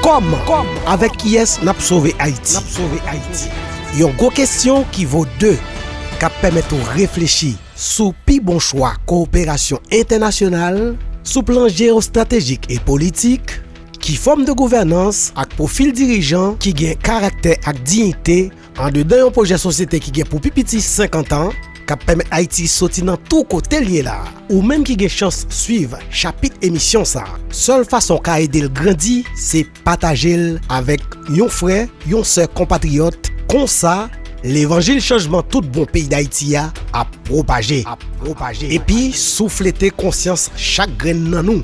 Kòman? Avèk kiyès n ap sove Ayiti? Yon gwo kesyon ki vo de, k ap pèmèt ou reflechi sou pi bon chwa kowoperasyon entènasyonal sou plan jeyostratejik e politik, ki fòm de gouvènans ak pwofil dirijan ki gen karaktè ak diyite Andedan yon pwojè sosyete ki gen pou pi piti 50 an, k ap pèmèt Ayiti soti nan tou kote l ye la, ou menm ki gen chans swiv chapit emisyon sa, sèl fason w ka ede l grandi se pataje l avèk yon frè, yon sè konpatriyòt, konsa, levanjil chanjman tout bon peyi Dayiti a ap pwopaje, epi souflete konsyans chak grenn nan nou.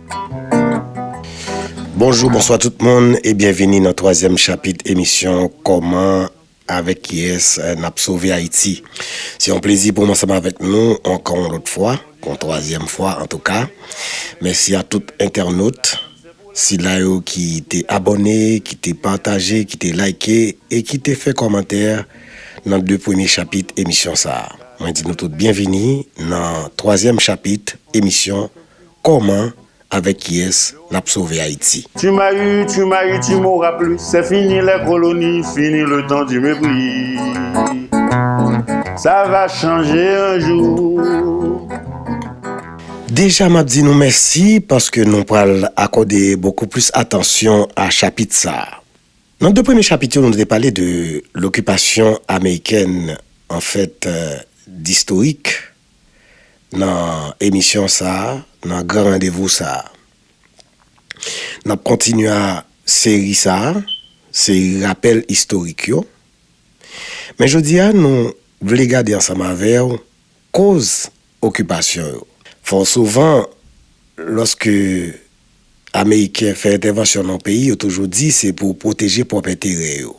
Bonjou, bonswa tout moun e byenvini nan twazyèm chapit emisyon Kòman avèk kiyès n ap sove Ayiti. Se yon plezi pou m ansanm avèk nou ankò yon lòt fwa, pou yon twazyèm fwa antouka. Mèsi a tout entènot, sila yo ki te abòne, ki te pataje, ki te layke e ki te fè kòmantè nan de premye chapit emisyon sa a. Mwen di nou tout byenvini nan twazyèm chapit emisyon. Koman avek kiyes nap sove ayiti. Tu m'as eu, tu m'as eu, tu m'auras plus C'est fini les colonies, fini le temps du mépris Ça va changer un jour. Deja map di nou mèsi paske nou pral akòde bokou plis atansyon a chapit sa. Nan 2 premye chapit yo nou te pale de lokipasyon amerikèn anfèt distorik. nan emisyon sa a, nan gran randevou sa a. N ap kontinye a seri sa a, seri rapèl istorik yo. Men jodi a nou vle gade ansanm avè w koz okipasyon yo. Fò souvan lòske ameriken fè entèvansyon nan yon peyi yo toujou di se pou pwoteje pwòp enterè yo.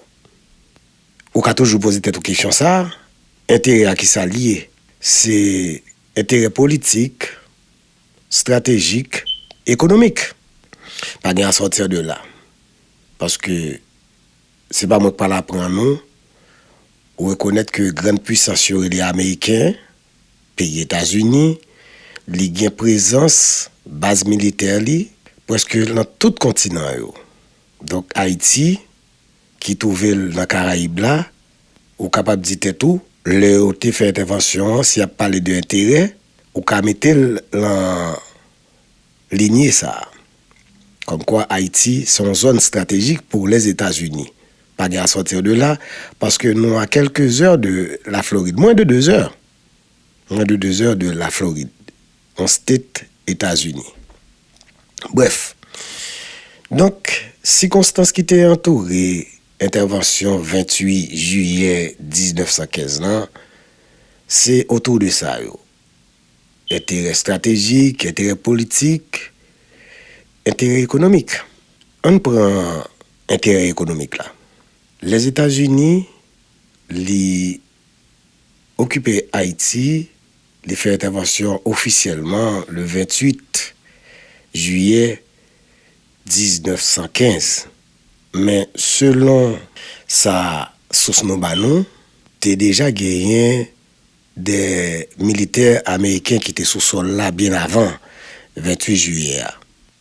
Ou ka toujou poze tèt ou kesyon sa a, enterè a ki sa l ye? Se enterè politik, stratejik, ekonomik. Pa gen a sortir de là. Paske se pa mwen k pral aprann ou, ou rekonèt ke grann puisans yo rele ameriken, peyi Etazini, li gen prezans, baz militè li, prèske lan tout kontinan yo. Donk Ayiti. ki twouve l nan Karayib la, ou kapab di tèt ou, lè yo te fè entèvansyon an, si y ap pale de enterè, ou ka mete l lan linye sa a. Kòmkwa Ayiti se yon zòn stratejik pou Lèzetazini. Pa gen asòtir de la, paske nou a kèlke zè de Laflorid, mwen de de zè, mwen de de zè de Laflorid. yon state Etazini. Brèf, donk sikonstans ki te antoure entèvansyon 28 jiyè 1915 lan, se otou de sa yo, enterè estratejik, enterè politik, enterè ekonomik. An n pran enterè ekonomik la. Lèzetazini li. okipe Ayiti, li fè entèvansyon ofisyèlman le 28 jiyè 1915. Men selon sa sous nou ba nou, te deja genyen de militè ameriken ki te sou sòl la byen avan 28 jiyè a.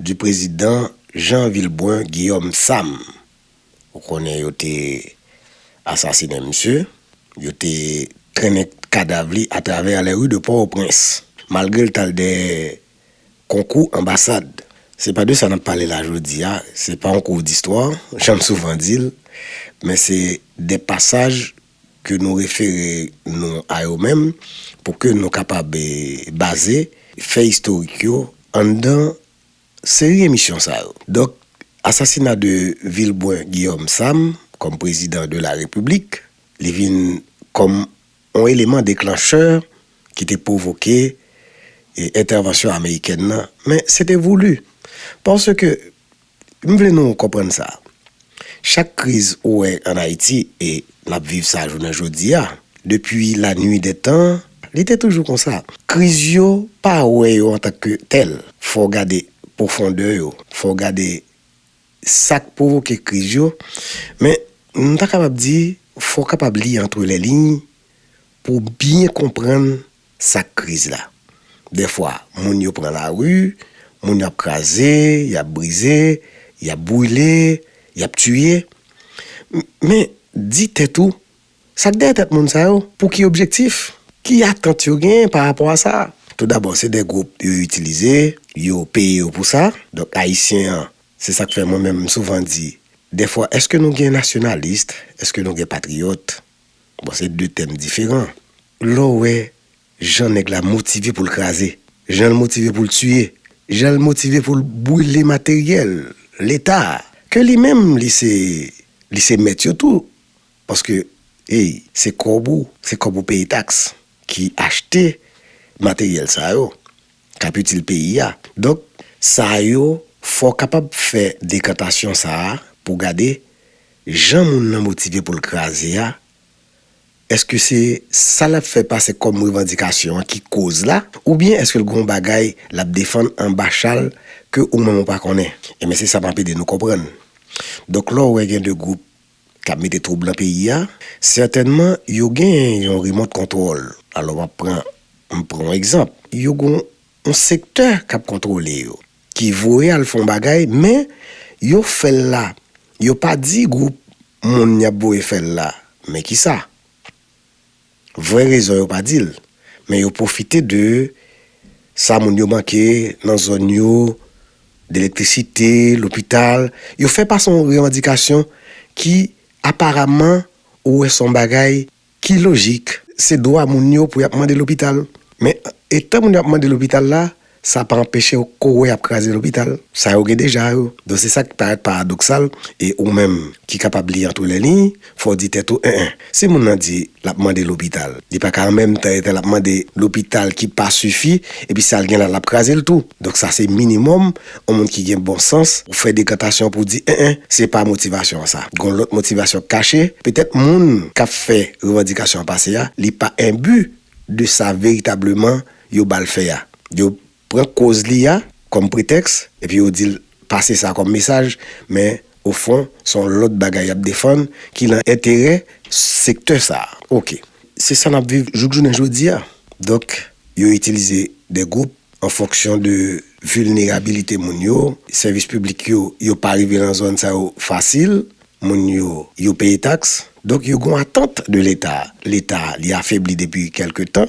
Du Président Jean Vilbrun Guillaume Sam, ou konnen yo te asasinen misye, yo te trennen kadav li atravè les rues de Port-au-Prince, malgre l t al dèyè konkou anbasad. Se pa de sa n ap pale la jodi a, se pa yon kou distwa, jan m souvan di l, men se de pasaj ke nou refere nou a yo menm pou ke nou kapab baze fè istorik yo anndan seri emisyon sa yo. Donk, asasina de Vilbrun Guillaume Sam kòm prezidan de la Repiblik, li vin kòm yon eleman deklanchè ki te pwovoke entèvansyon amerikèn nan, men se te voulu, paske, M vle nou konprann sa, chak kriz ou wè an Ayiti e n ap viv sa jounen jodi a, depi lanui dè tan, li te toujou konsa. Kriz yo, pa wè yo antan ke tèl. Fò w gade pwofondè yo, fò w gade sa k pwovoke kriz yo, men m ta kapab di fò w kapab li antre lè liy pou w byen konprann Sak kriz la? Dèfwa moun yo pran lari, moun yo ap kraze, y ap brize, y ap brile, y ap tiye. Men, di tèt ou, sa k dèyè tèt moun sa yo? Pou ki objektif? Ki atant yo genyen pa rapò a sa? Toudabò, se de gwoup yo itilize, yo peye yo pou sa. Donk, Ayisyen an, se sa k fè mwen menm m souvan di, dèfwa, èske nou gen nasyonalis? Èske nou gen patriyòt? Bon se 2 tèm diferan. Lè w wè jan nèg la motive pou l kraze, jan l motive pou l tiye, jan l motive pou l brile materyèl Leta a, ke li menm li se li se mèt yo tou paske ey se kòb ou, se kòb ou peye taks ki achte materyèl sa yo. k ap itil peyi a. Donk, sa yo, fò w kapab fè dekantasyon sa a pou w gade jan moun nan motive pou l kraze a, èske se sa l ap fè pase kòm revandikasyon an ki koz la, oubyen èske l gen yon bagay l ap defann anba chal ke ou menm ou pa konnen? Enben, se sa m ap ede nou konprann. Donk, lè w wè gen de gwoup k ap mete twoub nan peyi a, sètènman yo gen yon remòt kontwòl. Alò m ap pran, m pran yon egzanp, yo gen yon sektè k ap kontwole yo, ki voye al fè yon bagay men yo fè l la, yo pa di gwoup moun y ap voye fè l la men ki sa. Vrè rezon yo pa dil, men yo pwofite de sa moun yo manke nan zòn yo, de elektrisite, lopital, yo fè pase yon revandikasyon ki aparaman ou wè son bagay ki lojik. Se dwa moun yo pou yap mande lopital, men etan moun yo ap mande lopital la, Sa pa anpeche w kore ap kraze lopital sa yo gen deja yo. Donk se sa ki parèt paradoksal e ou menm ki kapab li antre lè liy, fò w di tèt ou en en. Si moun nan di l ap mande lopital, li pa ka an menm tan etan l ap mande lopital ki pa sifi epi sa l gen la l ap kraze l tou. Donk sa se minimòm yon moun ki gen bon sans ou fè dekantasyon pou w di en en. Se pa motivasyon an sa. Gon lòt motivasyon kache. Petèt moun k ap fè revandikasyon an pase a li pa enbi de sa veritableman Yo ba l fè a. Yo pran koz li a kòm pretèks epi yo di l pase sa kòm mesaj, men ofon se yon lòt bagay y ap defann ki nan enterè sektè sa a. Ok. Se sa n ap viv jouk jounen jodi a. Donk, yo itilize de gwoup an fonksyon de vilnerabilite moun yo. Sèvis piblik yo, yo pa rive nan zòn sa yo fasil. Moun yo, yo peye taks. Donk, yo gen yon atant de Leta. Leta, li afebli depi kèlke tan.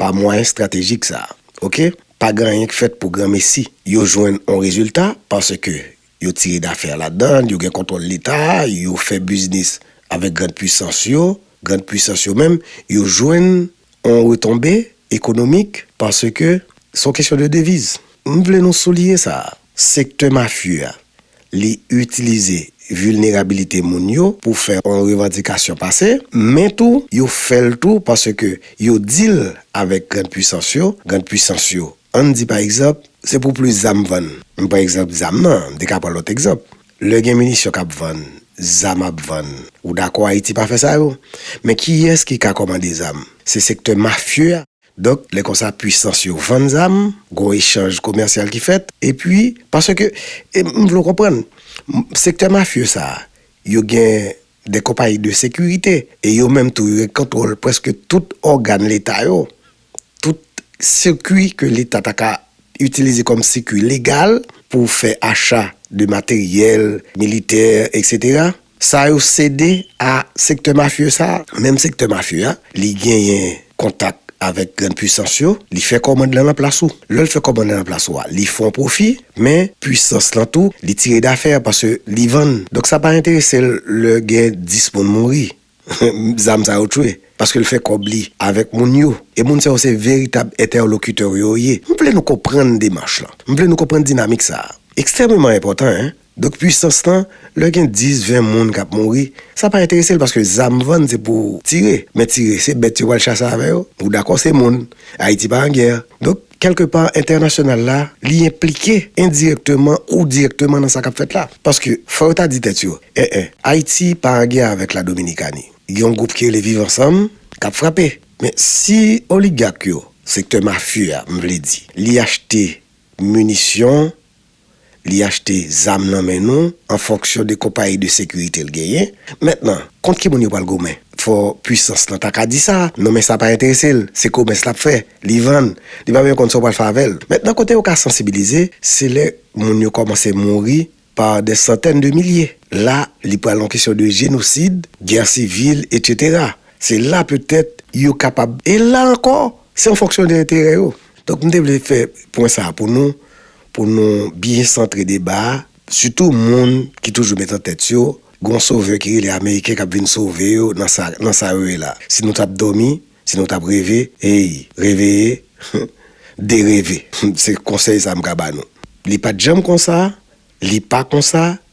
Pa mwayen stratejik sa a. Ok. Pa gen anyen k fèt pou granmesi. Yo jwenn on rezilta paske yo tire dafè ladan l, yo gen kontwòl Leta a, yo fè biznis avèk grand pwisans yo, grand pwisans yo menm, yo jwenn on retonbe ekonomik paske s on kesyon de deviz. M vle nou souliye sa a. Sektè mafye a, li itilize vilnerabilite moun yo pou fè yon revandikasyon pase, men tou yo fè l tou paske yo dil avèk grand pwisans yo, grand pwisans yo ann di pa egzanp se pou plis zam vann, m pran egzanp zam nan, m te ka pran lòt egzanp, lè gen minisyon kap vann, zam ap vann, ou dakò Ayiti pa fè sa yo? Men kiyès ki ka kòmande zam? Se sektè mafye a. Donk, lè konsa pwisans yo vann zam, gwo echanj komèsyal ki fèt, epi, paske, m vle w konprann, sektè mafye sa a, yo gen de konpayi de sekirite, e yo menm tou yo gen kontwòl prèske tout ògàn leta yo, tout sikui ke leta ta ka itilize kòm sikui legal pou fè acha de materyèl militè eksetera. Sa yo sede a sektè mafye sa a. Menm sektè mafye a, li genyen kontak avèk grann puisans yo, li fè kòmand lan nan plas ou. Lè l fè kòmand lan nan plas ou a, li fè yon pwofi, men puisans lan tou, li tire dafè paske li vann. Donk sa pa enterese l lè gen 10 moun mouri, zam sa yo tchwe, paske l fè kòb li avèk moun yo. E moun sa yo se veritab entèlokitè w yo ye. M vle nou konprann demach lan. M vle nou konprann dinamik sa a. Ekstrèmeman enpòtan, en. Donk pwisans lan, lè gen 10, 20 moun kap mouri, sa pa enterese l paske zam vann se pou tire, men tire se bèt yo pral chase avè yo, ou dakò se moun, Ayiti pa an gè. Donk kèlke pa entènasyonal la li enplike endirèkteman ou dirèkteman nan sa kap fèt la. Paske fò yo ta di tèt yo, en en, Ayiti pa an gè avèk la Dominikani, gen yon gwoup ki rele viv ansanm kap frape, men si oligak yo, sektè mafye a m vle di, li achte minisyon li achte zam nan men nou an fonksyon de konpayi de sekirite l genyen. Mentnan, kont ki moun yo pral goumen? Fò pwisans lan ta ka di sa, non men sa pa enterese l, se komès l ap fè, li vann, li pa menm konn sa w pral fè avè l. Mentnan kote yo ka sansibilize, se lè moun yo kòmanse mouri pa dè santèn de milye. La, li pral yon kesyon de jenosid, gè sivil, etsetera. Se la petèt yo kapab, e la ankò, se an fonksyon de enterè yo. Donk m te vle fè pwen sa a pou nou, Pou nou byen santre deba a, sitou moun ki toujou met an tèt yo, gen yon sovè ki rele Ameriken k ap vin sove yo nan sa, nan sa yo ye la. Si nou t ap dòmi, si nou t ap reve, ey, reveye, dereve. Se konsèy sa a m ka ba nou. Li pa t janm konsa, li pa konsa,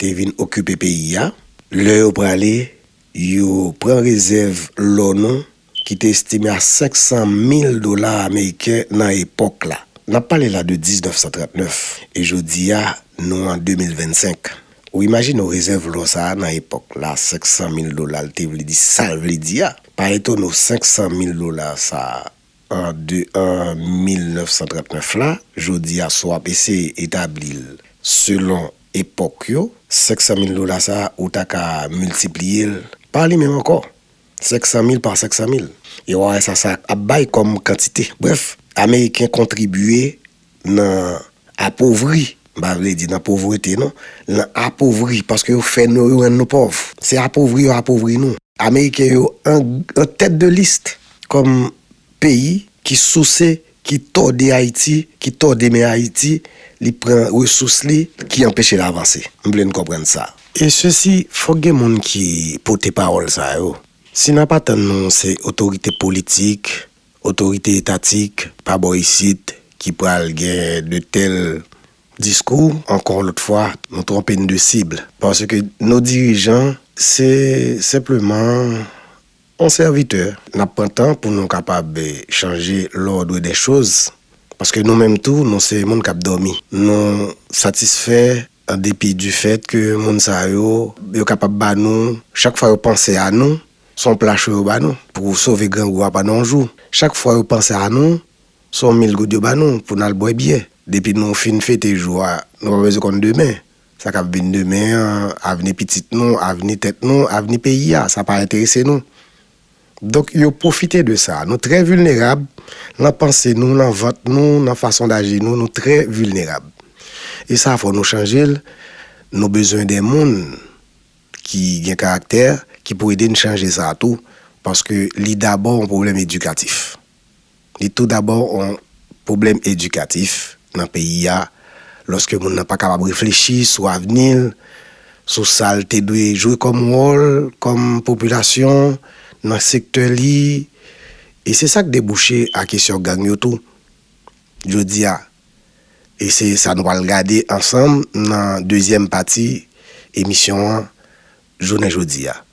te vin okipe peyi a. Lè yo prale, yo pran rezèv lò nou ki te estime a 500 mil dola ameriken nan epòk la. N ap pale la de 1939, e jodi a nou an 2025. Ou imajine w rezèv lò sa a nan epòk la 500 mil dola l te vle di sa l vle di a. Pa etone w 500 mil dola sa a an 2 an 1939 la, jodi a si w ap eseye etabli l selon epòk yo, 500 mil dola sa a ou ta ka miltipliye l pa li menm ankò, 500 mil pa 500 mil, e w a wè sa sa ap bay kòm kantite. Brèf, Ameriken kontribye nan apovri, m pa vle di nan povrete non, nan apovri paske yo fè nou, yo rann nou pòv. Se apovri yo apovri nou. Ameriken yo an tèt de list kòm peyi ki souse, ki tòde Ayiti, ki tòde men Ayiti, li pran resous li, ki anpeche l avanse. M vle n konprann sa. E sesi, fòk gen moun ki pote pawòl sa yo. Si n ap atann nou se otorite politik, otorite etatik pa bò isit ki pral gen de tèl Diskou, ankò yon lòt fwa, nou twonpe n de sib. Paske nou dirijan se senpleman yon sèvitè. N ap pran tan pou nou kapab chanje lòdre dè choz. Paske nou menm tou, nou se moun k ap dòmi. Nou satisfè an depi di fèt ke moun sa yo, yo kapab ba nou, chak fwa yo panse a nou, s on pla cho yo ba nou pou sove grangou a pandan yon jou. Chak fwa yo panse a nou, Se yon mil goud yo ba nou pou n al bwè byè. Depi nou fin fete jou a, nou pa bezwen konn demen. Sa k ap vin demen an, avni pitit nou, avni tèt nou, avni peyi a, sa pa enterese nou. Donk yo pwofite de sa. Nou trè vilnerab nan panse nou, nan vant nou, nan fason daji nou, nou trè vilnerab. E sa fò nou chanje l. Nou bezwen de moun ki gen karaktè ki pou ede n chanje sa tou, paske li dabò yon pwoblèm edikatif. Li tou dabò yon pwoblèm edikatif nan peyi a lòske moun nan pa kapab reflechi sou avni l, sou sa l te dwe jwe kòm wòl, kòm popilasyon, nan sektè li. E se sa k debouche a kesyon gang yo tou jodi a. E se sa nou pral gade ansanm nan dezyèm pati emisyon an jounen jodi a.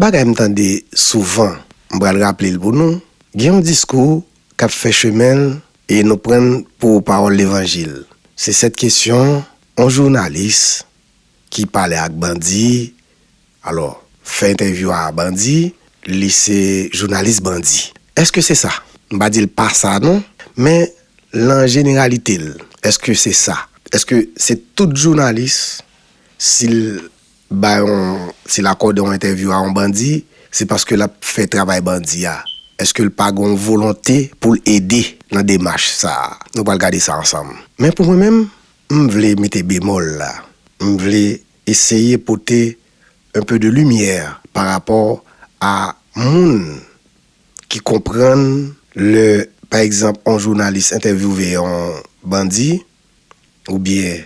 Bagay m tande souvan, m pral raple l pou nou, Gen yon diskou k ap fè chemen l e nou pran l pou pawòl levanjil. Se sèt kesyon yon jounalis ki pale ak bandi, alò, fè entèvyou a bandi, li se jounalis bandi. Èske se sa? M pa di l pa sa non, men lan jeneralite l, èske se sa? Èske se tout jounalis, si l Bay on ti lakòde on entèvyou a on bandi, se paske l ap fè travay bandi a. Èske l pa gen on volonte pou l ede nan demach sa a? Nou pral gade sa ansanm. Men pou mwen menm, m vle mete bemòl la. M vle eseye pote un peu de lumière par rapport a moun ki konprann lè pa egzanp on jounalis entèvyouve on bandi oubyen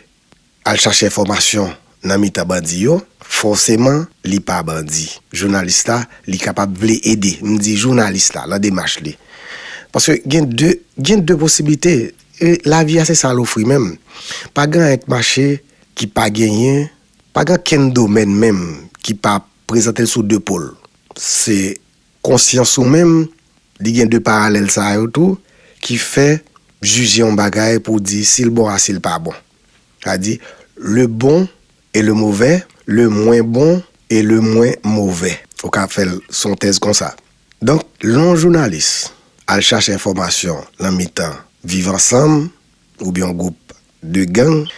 Al chache enfòmasyon nan mitan bandi yo, fòseman li pa bandi. Jounalis la, li kapab vle ede, m di jounalis la, lan demach li. Paske gen de, gen de posiblite. E lavi a se sa l ofri menm. Pa gen anyen k mache ki pa genyen, pa gen ankenn domèn menm ki pa prezante l sou de po l. Se Konsyans ou menm, li gen 2 paralèl sa yo tou ki fè jije yon bagay pou w di si l bon a si l pa bon. Sa vle di, le bon et le mauvais, le mwen bon e le mwen move. Ou ka fè l son tèz konsa. Donk, lè yon jounalis al chache enfòmasyon nan mitan viv ansanm oubyen yon gwoup de gang,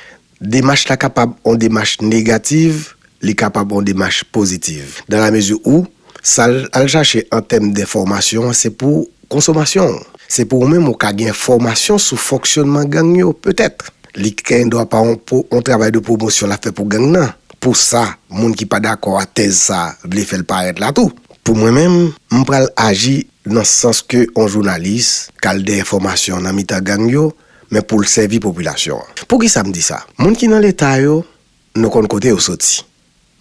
demach la kapab on demach negativ, li kapab on demach pozitiv. Dan la mezi ou, sa l al chache an tèm denfòmasyon an se pou konsomasyon ou. Se pou ou menm ou ka gen enfòmasyon sou fonksyònman gang yo, petèt. Li gen dwa pa on pou on travay de pwomosyon l ap fè pou gang nan, pou sa moun ki pa dakò a tèz sa vle fè l parèt la tou. Pou mwen menm, m pral aji nan sans ke on jounalis k al dèyè fòmasyon nan mitan gang yo, men pou l sèvi popilasyon an. Poukisa m di sa? Moun ki nan Leta yo, nou konn kote yo soti.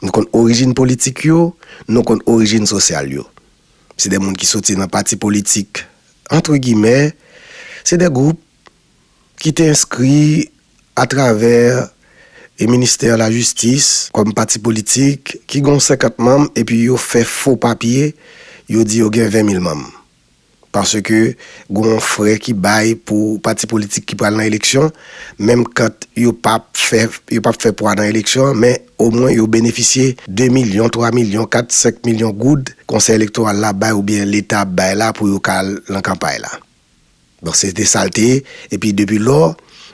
Nou konn orijin politik yo, nou konn orijin sosyal yo. Se de moun ki soti nan pati politik, antre gimè, se de gwoup ki te enskri atravè Ministè Lajistis kòm pati politik ki gen yon senkant manm epi yo fè fo papye, yo di yo gen ven mil manm. Paske gen yon frè ki bay pou pati politik ki pral nan eleksyon, menm kant yo pa p fè pwa nan eleksyon an, men omwen yo benefisye 2 milyon, 3 milyon, 4, 5 milyon goud Konsèy Elektoral la bay oubyen Leta ap bay la pou yo ka al nan kanpay la. Donk se te sa l te ye. Epi depi lò,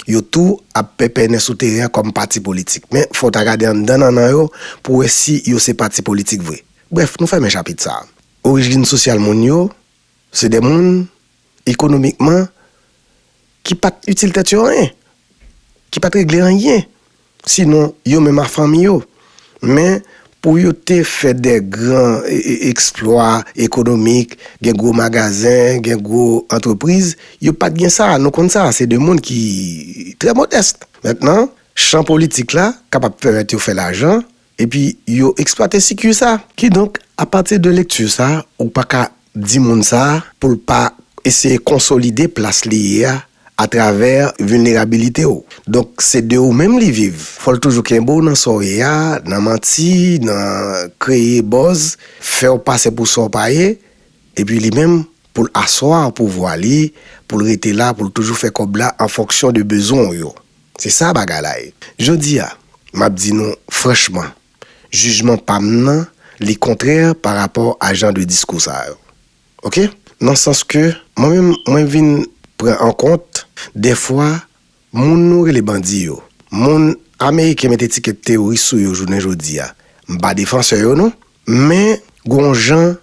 yo tou ap pèpènen sou teren an kòm pati politik. Men fò w ta gade anndan nannan yo pou w wè si yo se pati politik vre. Brèf, nou fèmen chapit sa a. Orijin sosyal moun yo, se de moun, ekonomikman, ki pa t itil tèt yo anyen, ki pa t regle anyen, sinon yo menm ak fanmi yo. Men, pou yo te fè de gran eksplwa ekonomik, gen gwo magazen, gen gwo antrepriz, yo pa t gen sa. Nou konn sa, se de moun ki trè modès. Mentnan, chan politik la kapab pèmèt yo fè lajan, Epi yo eksplwate sikui sa. Kidonk, apati de lekti sa, ou pa ka di moun sa pou l pa eseye konsolide plas li ye a atravè vilnerabilite w. Donk, se de ou menm li viv. Fò l toujou kenbe w nan sa w ye a, nan manti, nan kreye buzz, fè w pase pou sa w pa ye, epi li menm pou l aswa pouvwa li, pou l rete la, pou l toujou fè kòb la an fonksyon de bezwen w yo. Se sa bagay la ye. Jodi a, m ap di nou franchman, jijman pa m nan, li kontrè pa rapò a jan de diskou sa yo. Ok? Nan sans ke, mwen menm, mwen vin pran an kont, dèfwa, moun nou rele bandi yo, moun Ameriken met etikèt teworis sou yo jounen jodi a, m pa defansè yo non, men gon jan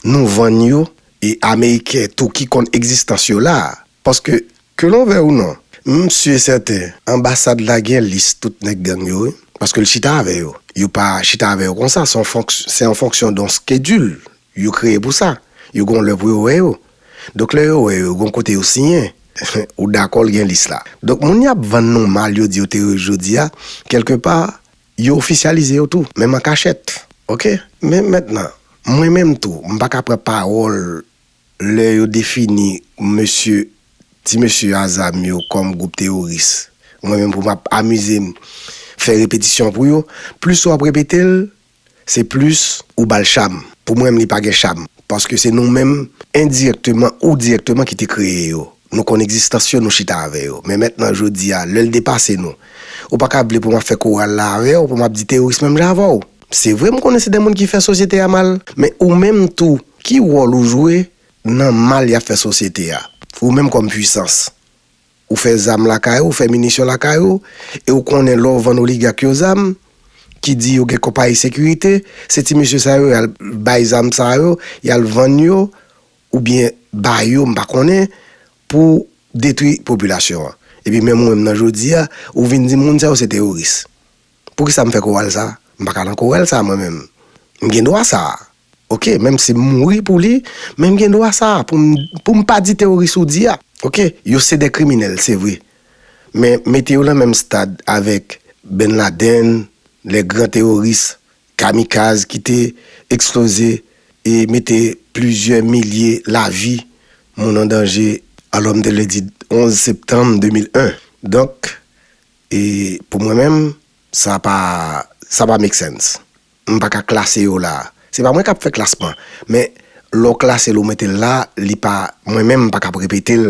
nou vann yo, e Ameriken tou ki konn egzistans yo la, Paske, ke nou vè ou non, m si e sèten, anbasad la gen lis tout nèg gang yo wi. Paske l chita avè yo. Yo pa chita avè yo konsa, se yon fonk, se an fonksyon don skedil yo kreye pou sa. Yo gen yon lè pou yo wè yo. Donk lè yo wè yo, yo gen yon kote yo siyen. Ou dakò l gen lis la. Donk moun y ap vann nou mal yo di yo teyoriss jodi a, kèlke pa, yo ofisyalize yo tou, menm an kachèt. Oke. Men mètnan, mwen menm tou, m pa ka pran pawòl. Lè yo defini mesye, ti mesye a zam yo kòm gwoup teyoris, mwen menm pou m ap amize m fè repetisyon pou yo, plis w ap repete l, se plis ou ba l cham. Pou mwen menm li pa gen cham, paske se nou menm endirèkteman ou dirèkteman ki te kreye yo. Nou konn egzistans yo, nou chita avè yo. Men mentnan, jodi a, lè l depase nou. Ou pa ka vle pou m ap fè koral la avè w, pou m ap di teworis menm jan avè w. Se vre m konnen se de moun ki fè sosyete a mal. Men ou menm tou, ki wòl ou jwe nan mal y ap fè sosyete a? Ou menm kòm puisans. Ou fè zam lakay ou, ou fè minisyon lakay ou, e ou konnen lè w vann oligak yo zam, ki di yo gen konpayi sekirite, se ti mesye sa yo y al bay zam sa yo, y al vann yo, oubyen ba yo m pa konnen pou detwi popilasyon an epi menm ou menm nan jodi a ou vin di moun sa yo se teworis poukisa m fè koral sa m pa ka nan koral sa mwen menm m gen dwa sa ok menm si m mouri pou li men m gen dwa sa pou m pou m pa di teworis ou di a ok yo se de kriminèl se vre men mete yo nan menm stad avèk Benladen lè gran teworis Kamikaz ki te eksploze e mete plizyè milye lavi moun an danje alòm de lendi 11 septanm 2001. Donk, e pou mwen menm, sa pa, sa pa make sense. M pa ka klase yo la. Se pa mwen k ap fè klasman, men lè w klase l ou mete l la, li pa, mwen menm m pa kab repete l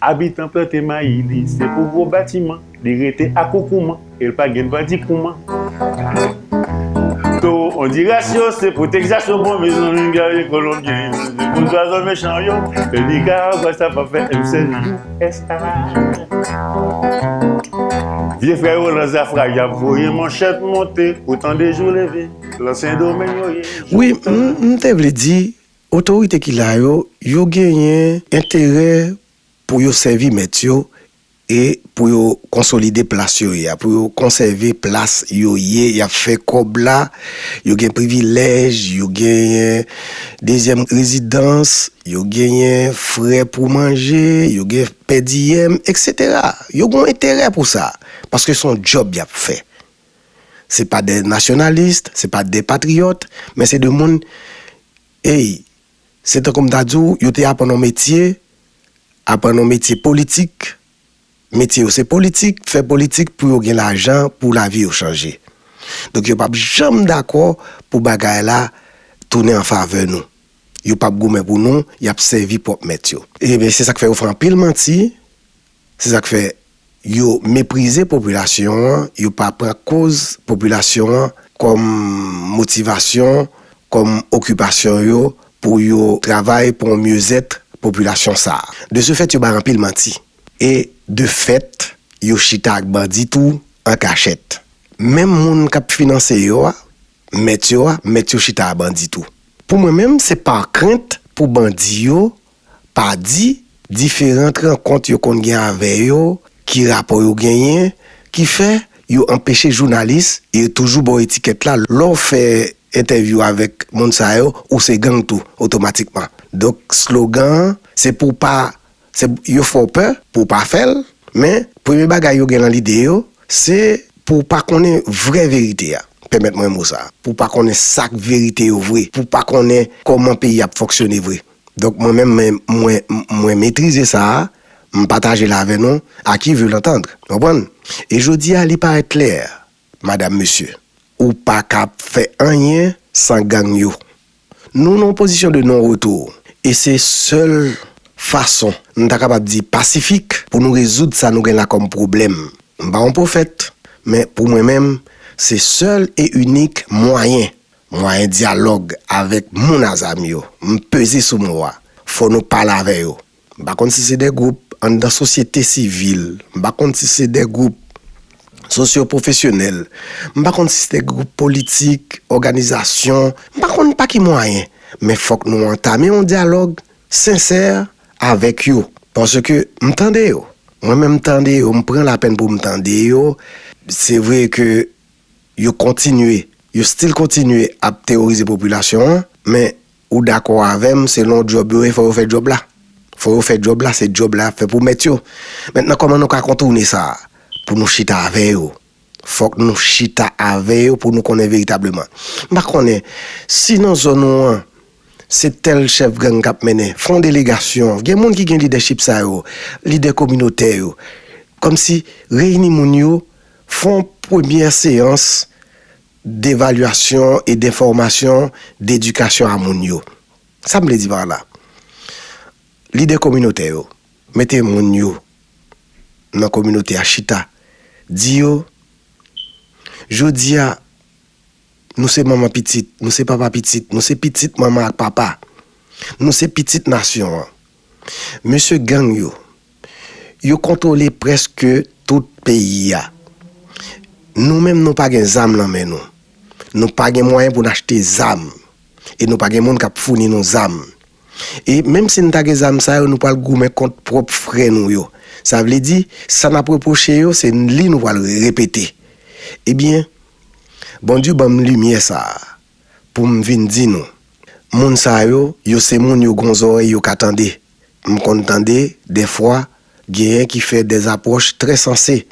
Abitan plante mayi li se pou gwo batiman Li rete akoukouman e l pa gen dwa di kouman Towo Ondiras yo se pou Tegzas yo bon Mezanmi gade Kolonbyen yo se pou zwazo mechan yo E Nikaragwa sa pa fè m sèl usa Vye frè yo lan Zafra y ap voye manchèt monte Pou tande jou leve lan Sendomeng yo ye Wi m te vle di Otorite ki la yo, yo genyen enterè pou yo sèvi mèt yo e pou yo konsolide plas yo ye a, pou yo konsève plas yo ye, y ap fè kòb la, yo gen privilèj, yo genyen dezyèm rezidans, yo genyen frè pou manje, yo gen pèdiyèm, eksetera. Yo gen yon enterè pou sa, paske se yon djòb y ap fè. Se pa de nasyonalis, se pa de patriyòt, men se de moun, ey, se tankou m ta di w, yo te aprann yon metye, aprann yon metye politik, metye yo se politik, fè politik pou yo gen lajan, pou lavi yo chanje. Donk yo p ap janm dakò pou bagay la tounen an favè nou. Yo p ap goumen pou nou, y ap sèvi pwòp mèt yo. Ebyen, se sa k fè yo fè anpil manti, Se sa k fè, yo meprize popilasyon an, yo pa pran koz popilasyon an kòm motivasyon, kòm okipasyon yo pou yo travay pou yon myezèt popilasyon sa a. De se fèt, yo bay anpil manti. E, de fèt, yo chita ak bandi tou an kachèt. Menm moun k ap finanse yo a, mèt yo a, mèt yo chita a bandi tou. Pou mwen menm, se pa krent pou bandi yo pa di, diferant rankont yo konn gen avè yo, ki rapò yo genyen, ki fè, yo anpeche jounalis, e yo toujou ba w etikèt la, lè w fè entèvyou avèk moun sa yo, ou se gang tou, otomatikman. Donk, slogan an, se pou w pa, se, yo fè w pè, pou w pa fè l, men, premye bagay yo gen lan lide yo, se, pou w pa konnen vrè verite a, pèmèt mwen mo sa, pou w pa konnen sa k verite yo vre, pou w pa konnen kòman peyi a ap fonksyone vre. Donk mwen menm mwen, mwen, mwen metrize sa a, m pataje l avè nou, à qui veut l'entendre. N konprann? E jodi a li parèt klè, madam, mesye, ou pa ka fè anyen san gang yo. Nou nan yon pozisyon de non retou e se sèl fason, m ta kapab di pasifik, pou nou rezoud sa nou gen la kòm pwoblèm. M pa yon pwofèt, men pou mwen menm, se sèl e inik mwayen Mwayen dyalòg avèk moun a zam yo, m peze sou mo a, fò nou pale avè yo. M pa konn si se de gwoup anndan sosyete sivil, m pa konn si se de gwoup sosyopwofesyonèl, m pa konn si se de gwoup politik, òganizasyon, m pa konn pa ki mwayen, men fòk nou antame yon dyalòg sensè avèk yo. Paske m tande yo. Mwen menm m tande yo, m pran lapèn pou m tande yo. Se vre ke. Yo kontinye, yo still kontinye ap teworize popilasyon an, men ou dakò avèm selon djòb yo ye fò yo fè djòb la? Fò yo fè djòb la, se djòb la yap fè pou mèt yo. Mentnan kòman nou ka kontourne sa? Pou nou chita avè yo. Fòk nou chita avè yo pou nou konnen veritableman. M pa konnen, si nan zòn ou an se tèl chèf gang kap mennen, fè yon delegasyon, gen moun ki gen lidèchip sa yo, lidè kominotè yo, kòmsi reyini moun yo Fon premyè seyans devalyasyon e denfòmasyon dedikasyon a moun yo. Sa m vle di pa la? Lidè kominotè yo, mete moun yo nan kominote a chita, di yo, Jodi a, Nou se manman pitit, nou se papa pitit, nou se pitit manman ak papa. Nou se pitit nasyon an. Mesye gang yo, yo kontwole prèske tout peyi a. Nou menm nou pa gen zam lan men nou. Nou pa gen mwayen pou n achte zam. E nou pa gen moun k ap founi nou zam. E menm si n ta gen zam sa yo, nou pral goumen kont pwòp frè nou yo. Sa vle di, sa n ap repwoche yo, se li nou pral repete. Ebyen, Bondye ban m limyè sa a pou m vin di nou, moun sa yo, yo se moun yo gon zòrèy yo ka tande. M konn tande, dèfwa, genyen ki fè dè apwòch trè sanse.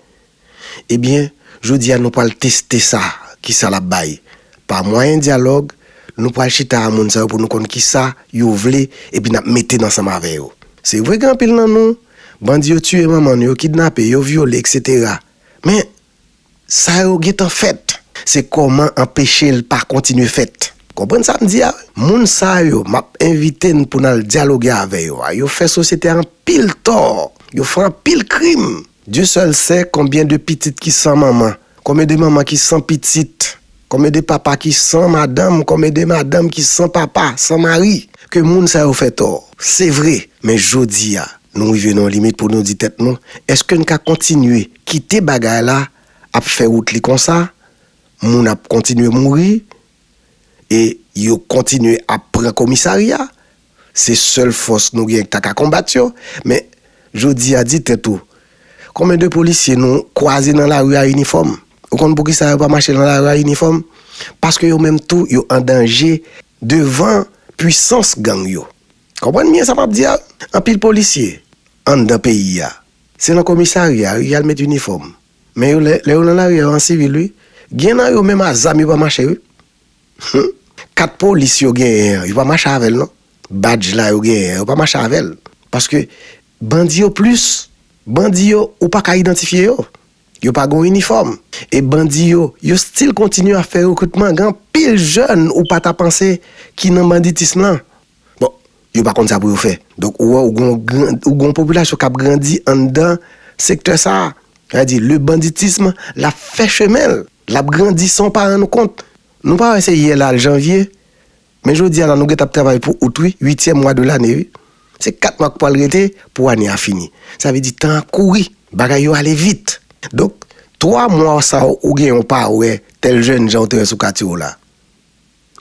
Ebyen, jodi a nou pral teste sa, ki sa l ap bay. Pa mwayen dyalòg, nou pral chita a moun sa yo pou nou konn ki sa yo vle epi n ap mete n ansanm avè yo. Se vre gen anpil nan nou, bandi yo tiye manman nou, yo kidnape, yo vyole, eksetera. Men, Sa yo gentan fèt. Se kòman anpeche l pa kontinye fèt. Konprann sa m di a? Moun sa yo m ap envite n pou n al dyaloge avè yo a, yo fè sosyete a anpil tò, yo fè anpil krim. Dye sèl se konbyen de pitit ki san manman, konbyen de manman ki san pitit. Konbyen de papa ki san madanm konbyen de madanm ki san papa san mari ke moun sa yo fè tò se vre men jodi a nou rive nan yon limit pou nou di tèt nou eske n ka kontinye kite bagay la ap fè wout li konsa moun ap kontinye mouri e yo kontinye ap pran komisarya Se sèl fòs nou gen k ta ka konbat yo. Men, jodi a, di tèt ou, Konbyen de polisye nou kwaze nan lari a inifòm? Ou konn poukisa yo pa mache nan lari a inifòm? Paske yo menm tou yo an danje devan puisans gang yo. Konprann byen sa m ap di a. Anpil polisye anndan peyi a, se nan komisarya wi y al met inifòm. Men yo lè yo nan lari a yo an sivil wi. Gen nan yo menm a zam yo pa mache wi. Humm kat polis yo genyen an yo pa mache avèl non badj la yo genyen an yo pa mache avèl paske bandi yo plis bandi yo ou paka idantifye yo yo pa gon inifòm e bandi yo yo stil kontinye ap fè rekritman gen anpil jèn ou pata panse ki nan banditism lan. Bon, yo pa konn sa pou yo fè. Donk, ou wè, ou gen yon gwo popilasyon k ap grandi anndan sektè sa a. Sa vle di, le banditism, l ap fè chemen l. L ap grandi san w pa rann ou kont. Nou pa wè se yè la l janvye. Men jodi a la, nou gen tan ap travay pou out wi, uityèm mwa de lane wi. Se kat mwa k pral rete pou ane a fini. Sa vle di tan ap kouri. Bagay yo ale vit. Donk, twa mwa sa w ou genyen w pa wè tèl jènjan ou te wè sou katye w la.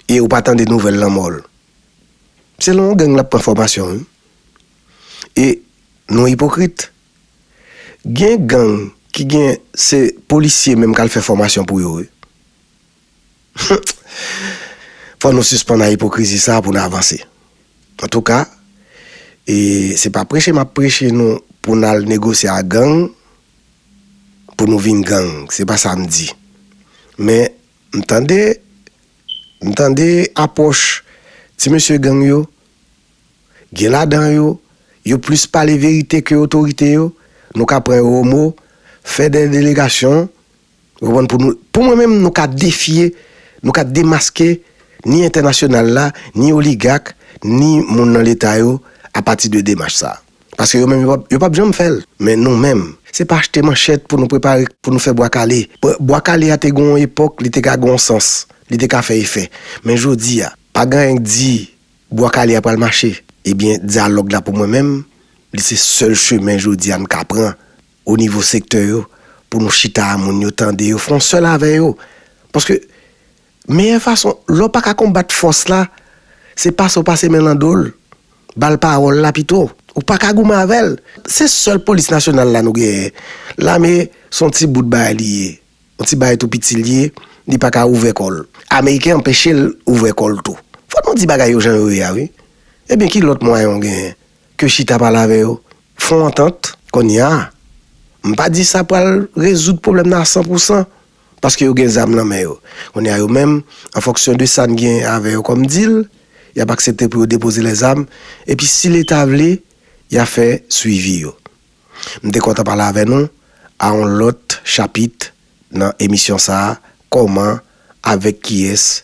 E ou pa tande nouvèl lanmò l. Se lan yon gang lap pran fòmasyon wi. E nou ipokrit. Gen gang ki gen se polisye menm kal fè fòmasyon pou yo wi. Hum! Fò nou sispann a ipokrizi sa pou n avanse. Antouka, e se pa preche map preche nou pou n al negosye a gang pou nou vin gang. Se pa sa m di. Men M tande M tande apwòch ti mesye gang yo gen ladan yo yo plis pale verite ke otorite yo nou ka pran yo o mo fè dè delegasyon ou konprann pou nou pou mwen menm nou ka defye nou ka demaske ni entènasyonal la ni oligak ni moun nan leta yo apati de demach sa. Paske yo menm yo pap janm fè l. Men nou menm. Se pa achte manchèt pou nou prepare pou nou fè bwa kale. Bwa kale a te gen yon epòk li te ka gen yon sans, li te ka fè efè. Men jodi a, pa gen anyen k di bwa kale a pral mache. Ebyen dyalòg la pou mwen menm, li se sèl chemen jodi a n ka pran o nivo sektè yo pou nou chita a moun yo tande yo fè yon sèl avè yo. Paske Meyè fason lè w pa ka konbat fòs la, se pase w pase men l nan do l, ba l pawòl la pito. Ou pa ka goumen avè l. Se sèl polis nasyonal la nou genyen. Lame s on ti bout bagay li ye. On ti bagay tou piti l ye, li pa ka ouvè kò l. Ameriken anpeche l ouvè kò l tou. Fò nou di bagay yo jan yo ye a wi. Ebyen ki lòt mwayen w genyen ke chita pale avè yo, fon antant? Konnya, m pa di sa pral rezoud pwoblèm nan a san pou san, paske yo gen zam nan men yo. Kounye a yo menm, an fonksyon de sa n gen avè yo kòm dil, y ap aksepte pou yo depoze lèzam, epi si Leta vle, y a fè swivi yo. M te kontan pale avè nou, a yon lòt chapit nan emisyon sa a, Kòman, avèk kiyès?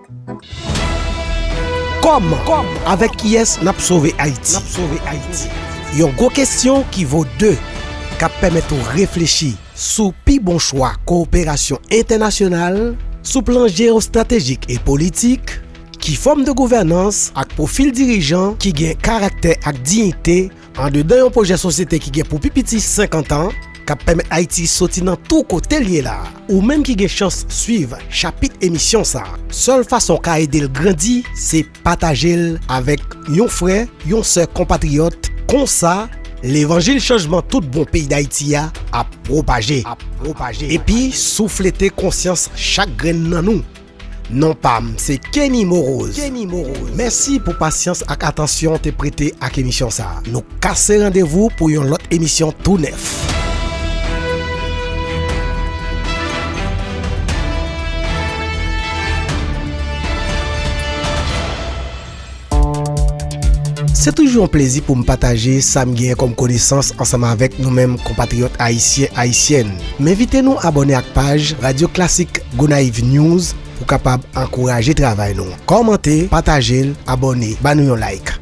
Kòman? Avèk kiyès n ap sove Ayiti? Yon gwo kesyon ki vo de, k ap pèmèt ou reflechi sou pi bon chwa kowoperasyon entènasyonal sou plan jeyostratejik e politik, ki fòm de gouvènans ak pwofil dirijan ki gen karaktè ak diyite, Andedan yon pwojè sosyete ki gen pou pi piti 50 an, k ap pèmèt Ayiti soti nan tou kote l ye la, ou menm ki gen chans swiv chapit emisyon sa, sèl fason w ka ede l grandi se pataje l avèk yon frè, yon sè konpatriyòt, konsa, levanjil chanjman tout bon peyi Dayiti a ap pwopaje, epi souflete konsyans chak grenn nan nou. Non pam se Kenny Morose mèsi pou pasyans ak atansyon w te prete ak emisyon sa. Nou kase randevou pou yon lòt emisyon tou nèf. Se toujou yon plezi pou m pataje sa m genyen kòm konesans ansanm avèk nou menm konpatriyòt ayisyen, ayisyèn. M envite nou abòne ak paj Radyo Klasik Gonayiv News pou kapab ankouraje travay nou. Kòmante, pataje l, abòne, ba nou yon like.